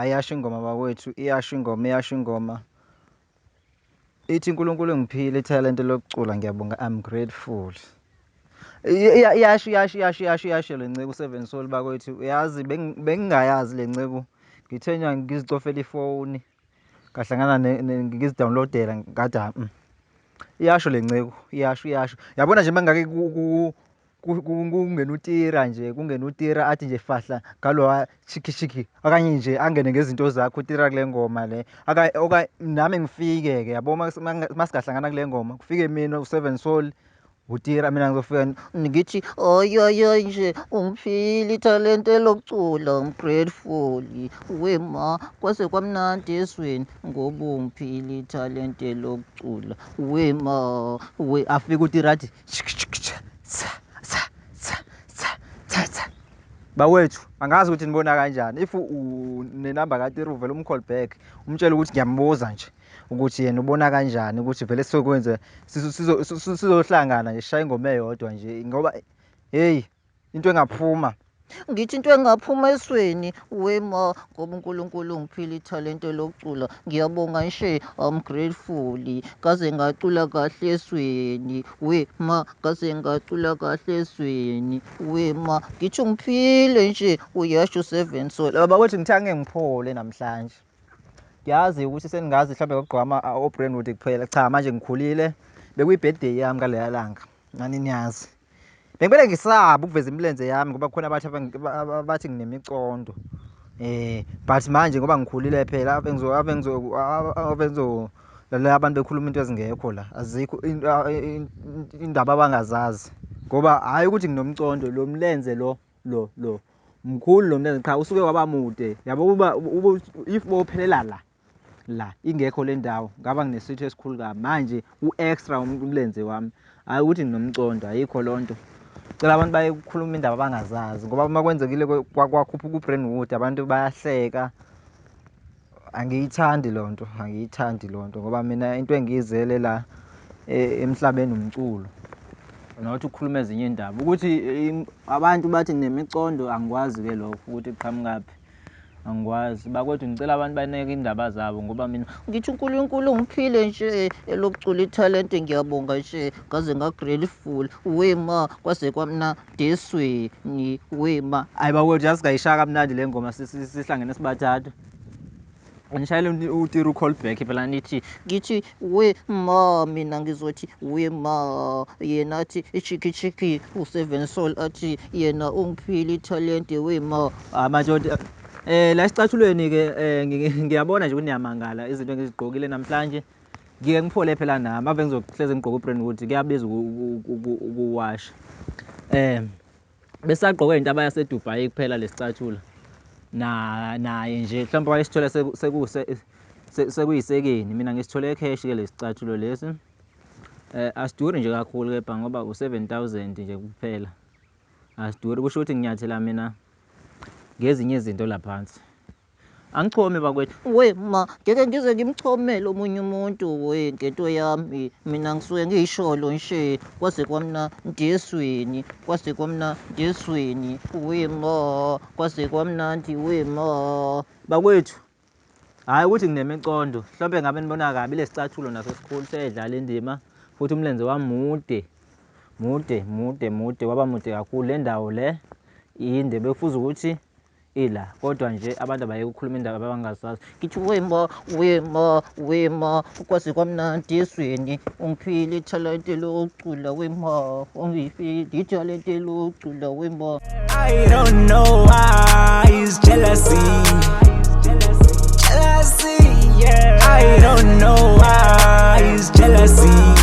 Ayasho ingoma bakwethu, iyasho ingoma, iyasho ingoma. Ithi uNkulunkulu ngiphile ithalente lokucula ngiyabonga I'm grateful. Iyasho iyasho iyasho iyasho iyasho le nceku seven soul bakwethu uyazi bengingayazi le nceku ngithe ngizicofela ifoni ngahlangana ngizidownloadela ngathi ah, mm. iyasho le nceku iyasho iyasho yabona nje mangake kungena utira nje kungena utira athi nje fahla ngalowa chikishiki okanye nje angene ngezinto zakho utira kule ngoma le nami ngifike-ke yabo masingahlangana kule ngoma kufike mina useven soul Butira mina ngizofika ngithi oyoyoy nje ungiphile ithalente lokucula I'm grateful wema kwase kwamnandi esweni ngoba ungiphile ithalente lokucula wema we afika utira athi bawethu angazi ukuthi nibona kanjani if unenamba katira uvele umcall back umtshele ukuthi ngiyambuza nje ukuthi yena ubona kanjani ukuthi vele sizokwenze sizohlangana nje sishaye ingoma eyodwa nje ngoba heyi into engaphuma ngithi into engaphuma esweni wema ngoba unkulunkulu ungiphile ithalente lokucula ngiyabonga nshe am grateful kaze ngacula kahle esweni wema kaze ngacula kahle esweni wema ngithi ungiphile nje uyasho seven sol abakwethu ngithe ange ngiphole namhlanje ngiyazi ukuthi seningazi mhlawumbe ngokugqwama obrandwood kuphela cha manje ngikhulile bekuyi-birthday yami ngaleya langa nani niyazi bengibele ngisaba ukuveza imilenze yami ngoba khona abathi abathi nginemicondo um but manje ngoba ngikhulile phela ave ngizolalela abantu bekhuluma into ezingekho la azikho indaba abangazazi ngoba hhayi ukuthi nginomcondo lo mlenze lo lo lo mkhulu lo mntana qha usuke waba mude yabo uba if bophelela la la ingekho le ndawo ngaba nginesitho esikhulu kabi manje u-extra umlenze wami hhayi ukuthi nginomcondo ayikho loo nto cela abantu bayekhuluma indaba abangazazi ngoba uma kwenzekile kwakhuphuka u-brainwood abantu bayahleka Angiyithandi lo nto, angiyithandi lo nto ngoba mina into engiyizele la e, emhlabeni umculo not ukukhuluma ezinye indaba ukuthi abantu bathi nemicondo angikwazi-ke lokho ukuthi kuqhamukaphi angikwazi bakwethu ngicela abantu baneke indaba zabo ngoba mina ngithi unkulunkulu ngiphile nje elokucula ithalente ngiyabonga nje ngaze ngagrateful we ma kwaze kwamna esisodiswini wema hayi bakwethu yazi kayishaya kamnandi le ngoma sihlangene sibathathu ngishayele utira u-call back phela nithi ngithi we ma mina ngizothi we ma yena athi ichiki chiki u-seven soul athi yena ungiphile ithalente we ma hayi manje um la sicathulweni-ke um ngiyabona nje ukuthi niyamangala izinto engizigqokile namhlanje ngiye ngiphole phela nami ave ngizohleze ngigqoke ubrand ukuthi kuyabiza ukuwasha um besagqoke into abayasedubai kuphela lesicatshula naye nje mhlawumbe wayesithole sekuyisekeni mina ngisithole ecash ke lesicathulo lesi um eh, asiduri nje kakhulu kepha ngoba u-seven thousand nje kuphela asiduri kusho ukuthi nginyathela mina ngezinye izinto laphansi Angichomi bakwethu. We ma ngeke ngize ngimchomele omunye umuntu we ngento yami mina ngisuke ngiyisholo nje kwaze kwamna ndiyesweni kwaze kwamna ndiyesweni we ma kwaze kwamnandi we ma bakwethu hhayi ukuthi nginemicondo mhlawumbe ngabe nibona kabi lesicathulo naso sikhulu seyedlala indima futhi umlenze wami mude mude mude mude waba mude kakhulu le ndawo le yinde bekufuza ukuthi ila kodwa nje abantu abayeke ukukhuluma indaba abangazazi ngithi wema wema wema ukwazi kwamnandi ezweni ungiphile ithalente lokucula wema ungiphile ithalente lokucula wema I don't know why it's jealousy jealousy yeah I don't know why it's jealousy